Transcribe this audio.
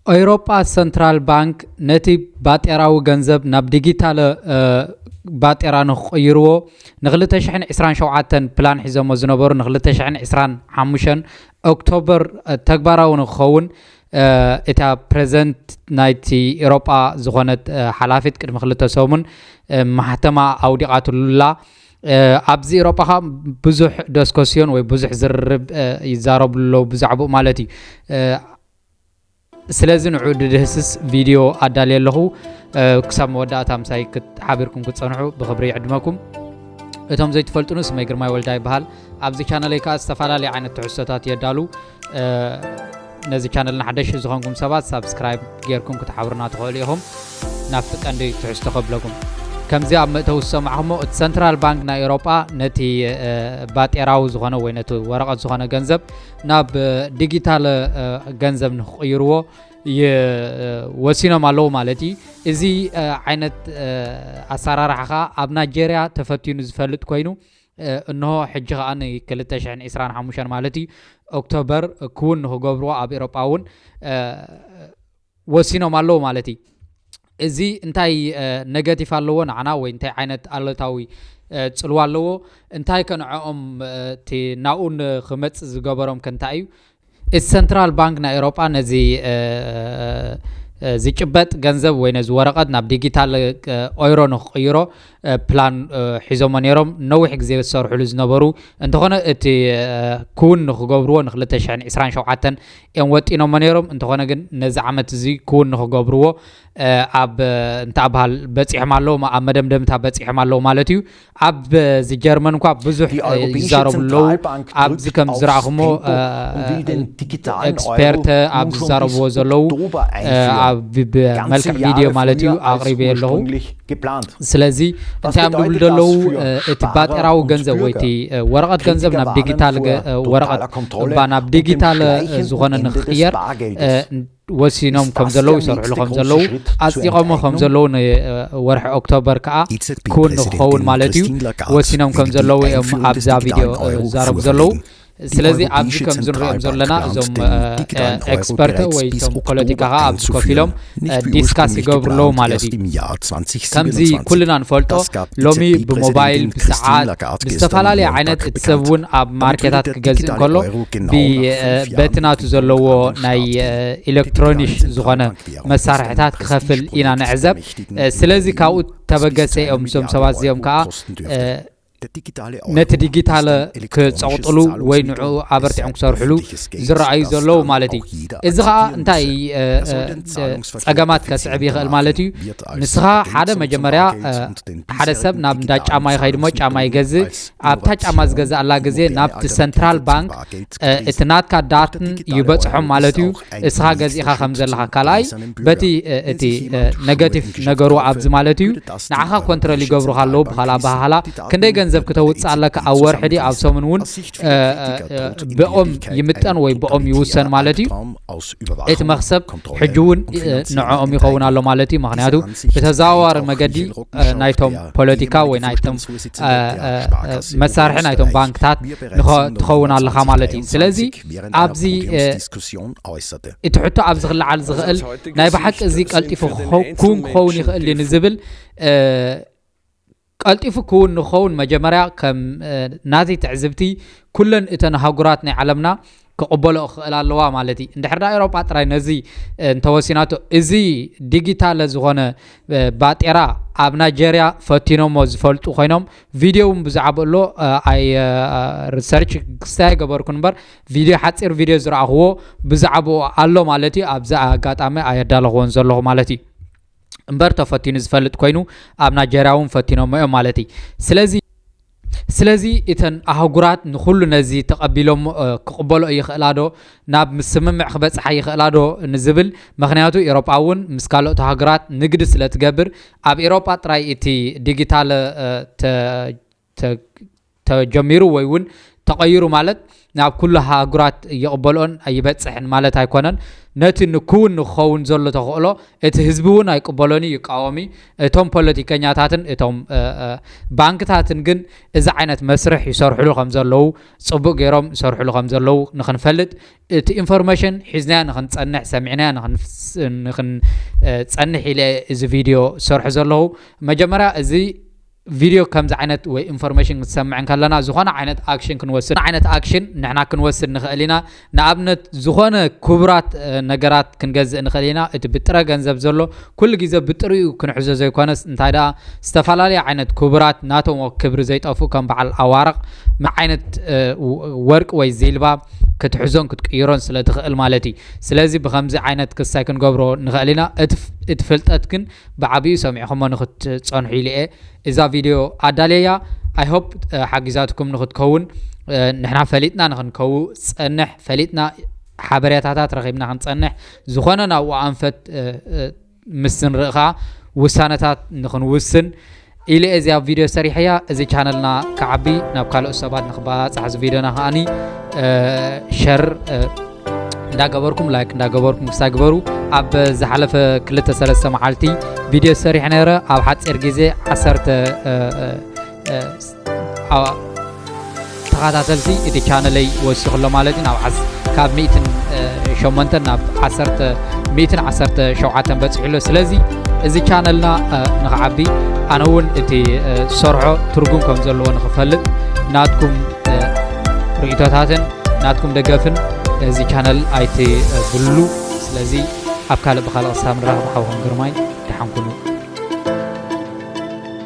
ኤውሮጳ ሰንትራል ባንክ ነቲ ባጤራዊ ገንዘብ ናብ ዲጊታለ ባጤራ ንክቕይርዎ ን2027 ፕላን ሒዘሞ ዝነበሩ ን2025 ኦክቶበር ተግባራዊ ንክኸውን እታ ፕሬዚደንት ናይቲ ኤሮጳ ዝኾነት ሓላፊት ቅድሚ ክልተ ሰሙን ማሕተማ ኣውዲቓትሉላ ኣብዚ ኤሮጳ ከዓ ብዙሕ ደስኮስዮን ወይ ብዙሕ ዝርርብ ይዛረቡ ኣለዉ ብዛዕባኡ ማለት እዩ ስለዚ ንዑ ድድህስስ ቪድዮ ኣዳልየ ኣለኹ ክሳብ መወዳእታ ምሳይ ሓቢርኩም ክፀንሑ ብክብሪ ይዕድመኩም እቶም ዘይትፈልጡኑ ስመይ ግርማይ ወልዳ ይበሃል ኣብዚ ቻነለይ ከዓ ዝተፈላለዩ ዓይነት ትሕዝቶታት የዳሉ ነዚ ቻነልና ሓደሽቲ ዝኾንኩም ሰባት ሳብስክራይብ ጌርኩም ክትሓብሩና ትኽእሉ ኢኹም ናብቲ ቀንዲ ትሕዝቶ ከብለኩም ከምዚ ኣብ መእተዊ ዝሰማዕኹሞ እቲ ሰንትራል ባንክ ናይ ኤሮጳ ነቲ ባጤራዊ ዝኾነ ወይ ነቲ ወረቐት ዝኾነ ገንዘብ ናብ ዲጂታል ገንዘብ ንክቕይርዎ ወሲኖም ኣለዉ ማለት እዩ እዚ ዓይነት ኣሰራርሓ ከዓ ኣብ ናይጀርያ ተፈትኑ ዝፈልጥ ኮይኑ እንሆ ሕጂ ከኣ ን ክልተ ሽሕን ዒስራን ሓሙሽተን ማለት እዩ ኦክቶበር ክውን ንክገብርዎ ኣብ ኤሮጳ እውን ወሲኖም ኣለዉ ማለት እዩ እዚ እንታይ ነገቲፍ ኣለዎ ንዓና ወይ እንታይ ዓይነት ኣለታዊ ፅልዋ ኣለዎ እንታይ ከንዐኦም እቲ ናብኡ ንክመፅ ዝገበሮም ከንታይ እዩ እቲ ሰንትራል ባንክ ናይ ኤውሮጳ ነዚ ዝጭበጥ ገንዘብ ወይ ነዚ ወረቐት ናብ ዲጊታል ኦይሮ ንክቕይሮ ፕላን ሒዞሞ ነይሮም ነዊሕ ግዜ ዝሰርሕሉ ዝነበሩ እንተኾነ እቲ ክውን ንክገብርዎ ን227 እዮም ወጢኖሞ ነይሮም እንተኾነ ግን ነዚ ዓመት እዚ ክውን ንክገብርዎ ኣብ እንተኣብሃል በፂሖም ኣለዉ ኣብ መደምደምታ በፂሖም ኣለዉ ማለት እዩ ኣብ እዚ ጀርመን እኳ ብዙሕ ይዛረቡ ኣለዉ ኣብዚ ከም ዝረኣኹሞ ኤክስፐርተ ኣብ ዝዛረብዎ ዘለዉ ብመልክዕ ቪድዮ ማለት እዩ ኣቕሪበ ኣለኹ ስለዚ እንታይ እዮም ዝብሉ ዘለዉ እቲ ባጤራዊ ገንዘብ ወይ እቲ ወረቐት ገንዘብ ናብ ዲጊታል ወረቐት እባ ናብ ዲጊታል ዝኾነ ንክቕየር ወሲኖም ከም ዘለዉ ይሰርሕሉ ከም ዘለዉ ኣጽዲቖሞ ከም ዘለዉ ንወርሒ ኦክቶበር ከዓ ክውን ንክኸውን ማለት እዩ ወሲኖም ከም ዘለዉ እዮም ኣብዛ ቪድዮ ዝዛረቡ ዘለዉ ስለዚ ኣብዚ ከም ዝንሪኦም ዘለና እዞም ኤክስፐርት ወይ እቶም ፖለቲካ ከዓ ኣብዚ ኮፍ ኢሎም ዲስካስ ይገብሩ ኣለዉ ማለት እዩ ከምዚ ኩልና ንፈልጦ ሎሚ ብሞባይል ብሰዓት ብዝተፈላለየ ዓይነት እቲ ሰብ እውን ኣብ ማርኬታት ክገዝእ እንከሎ በቲ ናቱ ዘለዎ ናይ ኤሌክትሮኒሽ ዝኾነ መሳርሕታት ክኸፍል ኢና ንዕዘብ ስለዚ ካብኡ ተበገሰ እዮም እዞም ሰባት እዚኦም ከዓ ነቲ ዲጊታለ ክፀቕጥሉ ወይ ንዑ ኣበርቲዖም ክሰርሕሉ ዝረኣዩ ዘለዉ ማለት እዩ እዚ ከዓ እንታይ ፀገማት ከስዕብ ይኽእል ማለት እዩ ንስኻ ሓደ መጀመርያ ሓደ ሰብ ናብ እንዳ ጫማ ይኸይድ እሞ ጫማ ይገዝእ ኣብታ ጫማ ዝገዛእላ ግዜ ናብቲ ሰንትራል ባንክ እቲ ናትካ ዳትን ይበፅሖም ማለት እዩ እስኻ ገዚእኻ ከም ዘለኻ ካልኣይ በቲ እቲ ነገቲቭ ነገሩ ኣብዚ ማለት እዩ ንዓኻ ኮንትረል ይገብሩኻ ኣለዉ ብካል ኣባሃሃላ ክንደይ ገንዘብ ክተውፅእ ኣለካ ኣብ ወርሒ ዲ ኣብ ሰሙን እውን ብኦም ይምጠን ወይ ብኦም ይውሰን ማለት እዩ እቲ መኽሰብ ሕጂ እውን ንዕኦም ይኸውን ኣሎ ማለት እዩ ምክንያቱ ብተዘዋዋሪ መገዲ ናይቶም ፖለቲካ ወይ ናይቶም መሳርሒ ናይቶም ባንክታት ትኸውን ኣለካ ማለት እዩ ስለዚ ኣብዚ እቲ ሕቶ ኣብዚ ክለዓል ዝኽእል ናይ ብሓቂ እዚ ቀልጢፉ ክውን ክኸውን ይኽእል እዩ ንዝብል ቀልጢፉ ክውን ንክኸውን መጀመርያ ከም ናተይ ትዕዝብቲ ኩለን እተን ኣህጉራት ናይ ዓለምና ክቕበልኦ ክኽእላ ኣለዋ ማለት እዪ። እንድሕር ድኣ ኤውሮጳ ጥራይ ነዚ እንተወሲናቶ እዚ ዲጊታለ ዝኾነ ባጤራ ኣብ ናይጀርያ ፈቲኖሞ ዝፈልጡ ኮይኖም ቪድዮ እውን ብዛዕብኡ ኣሎ ኣይ ሪሰርች ክስታይ ኣይገበርኩን እምበር ቪድዮ ሓጺር ቪድዮ ዝረኣኽዎ ብዛዕብኡ ኣሎ ማለት እዩ። ኣብዚ ኣጋጣሚ ኣየዳለኽዎን ዘለኹ ማለት እዩ። እምበር ተፈቲኑ ዝፈልጥ ኮይኑ ኣብ ናይጀርያ እውን ፈቲኖሞ እዮም ማለት እዩ ስለዚ ስለዚ እተን ኣህጉራት ንኩሉ ነዚ ተቐቢሎም ክቕበሎ ይኽእላ ዶ ናብ ምስምምዕ ክበፅሓ ይኽእላ ዶ ንዝብል ምክንያቱ ኤሮጳ እውን ምስ ካልኦት ሃገራት ንግዲ ስለ ትገብር ኣብ ኤሮጳ ጥራይ እቲ ዲጊታል ተጀሚሩ ወይ እውን ተቐይሩ ማለት ናብ ኩሉ ሃህጉራት ይቕበልኦን ይበፅሕን ማለት ኣይኮነን። ነቲ ንክውን ንክኸውን ዘሎ ተኽእሎ እቲ ህዝቢ እውን ኣይቅበሎን እዩ፣ ይቃወም እዩ። እቶም ፖለቲከኛታትን እቶም ባንክታትን ግን እዚ ዓይነት መስርሕ ይሰርሕሉ ከም ዘለዉ ፅቡቅ ገይሮም ይሰርሕሉ ከም ዘለዉ ንክንፈልጥ እቲ ኢንፎርሜሽን ሒዝናዮ ንክንፀንሕ ሰሚዕናዮ ንክንፀንሕ ኢለ እዚ ቪድዮ ዝሰርሑ ዘለኹ መጀመርያ እዚ ቪድዮ ከምዚ ዓይነት ወይ ኢንፎርሜሽን ክንሰምዕ እንከለና ዝኾነ ዓይነት ኣክሽን ክንወስድ ዓይነት ኣክሽን ንሕና ክንወስድ ንኽእል ኢና። ንኣብነት ዝኾነ ክቡራት ነገራት ክንገዝእ ንኽእል ኢና። እቲ ብጥረ ገንዘብ ዘሎ ኩሉ ግዜ ብጥሪኡ ክንሕዞ ዘይኮነስ እንታይ ደኣ ዝተፈላለየ ዓይነት ክቡራት ናቶም ክብሪ ዘይጠፍኡ ከም በዓል ኣዋርቕ ዓይነት ወርቂ ወይ ዚልባ ክትሕዞን ክትቅይሮን ስለ ትኽእል ማለት እዩ። ስለዚ ብኸምዚ ዓይነት ክሳይ ክንገብሮ ንኽእል ኢና። እቲ ፍልጠት ግን ብዓቢኡ ሰሚዕኹሞ ንኽትጸንሑ ኢለ'የ እዛ ቪድዮ ኣዳልየያ ኣይ ሆፕ ሓጊዛትኩም ንኽትከውን ንሕና ፈሊጥና ንኽንከው ጸንሕ ፈሊጥና ሓበሬታታት ረኺብና ክንጸንሕ ዝኾነ ናብኡ ኣንፈት ምስ ንርኢ ኸኣ ውሳነታት ንኽንውስን ኢለ እየ እዚኣ ቪድዮ ሰሪሐያ እዚ ቻነልና ክዓቢ ናብ ካልኦት ሰባት ንክባፃሕ እዚ ቪድዮና ከዓኒ ሸር እንዳገበርኩም ላይክ እንዳገበርኩም ክሳ ግበሩ ኣብ ዝሓለፈ ክልተ ሰለስተ መዓልቲ ቪድዮ ሰሪሕ ነረ ኣብ ሓፂር ግዜ ዓሰርተ ተኻታተልቲ እቲ ቻነለይ ወሲኹ ኣሎ ማለት እዩ ናብ ካብ ሚእትን ሸሞንተን ናብ ዓሰርተ ሚእትን ዓሰርተ ሸውዓተን በፂሑ ኣሎ ስለዚ እዚ ቻነልና ንክዓቢ ኣነ እውን እቲ ዝሰርሖ ትርጉም ከም ዘለዎ ንክፈልጥ ናትኩም ርእቶታትን ናትኩም ደገፍን እዚ ቻነል ኣይትብሉ ስለዚ ኣብ ካልእ ብካልእ ክሳብ ንራኸብ ሓውኹም ግርማይ ደሓን ኩኑ